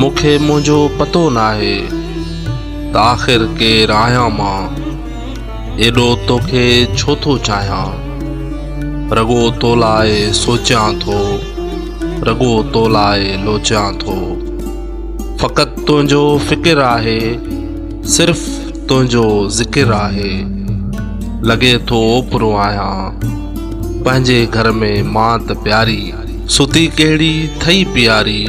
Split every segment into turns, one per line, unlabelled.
مون کي منهنجو پتو ناهي ته آخر ڪير آهيان مان ايڏو توکي ڇو ٿو چاهيان رڳو تو لاء سوچيان ٿو رڳو تو لاء لوچيان ٿو فقط تنهنجو فڪر آهي صرف تنهنجو ذڪر آهي. لڳي ٿو اوپرو آهيان پنهنجي گهر ۾ مان ته پياري. ستي ڪهڙي ٿئي پياري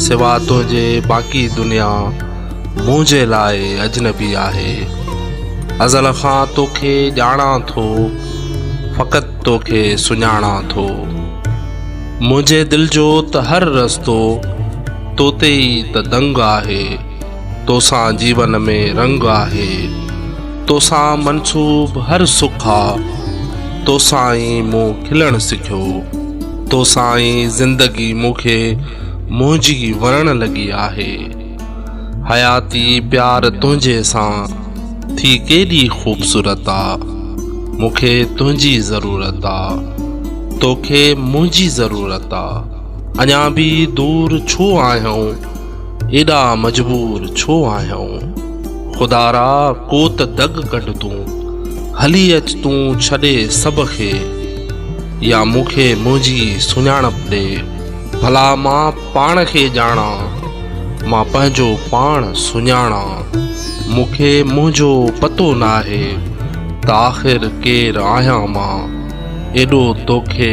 سوا تنهنجي باقي دنيا منهنجي لاء اجنبي آهي. ازل کان توکي ڄاڻان ٿو فقط توکي سڃاڻان ٿو. منهنجي دل جو ته هر رستو تو تي ئي ته دنگ آهي. توسان جيون ۾ رنگ آهي توسان منسوب هر سک آ توسان ئي مون کلڻ سکيو توسان ئي زندگي مون کي منهنجي وڻڻ لڳي آهي حياتي پيار تنهنجي سان ٿي ڪيڏي خوبصورت آ مون کي تنهنجي ضرورت آ توکي منهنجي ضرورت آ اڃا به دور ڇو آهيون ايڏا مجبور ڇو آهيون؟ خدارا ڪو ته دڳ ڪڍ تون، هلي اچ تون ڇڏي سڀ کي، يا مون کي منهنجي سڃاڻپ ڏي، ڀلا مان پاڻ کي ڄاڻان، مان پنهنجو پاڻ سڃاڻان، مون کي منهنجو پتو ناهي ته آخر ڪير آهيان مان، ايڏو توکي.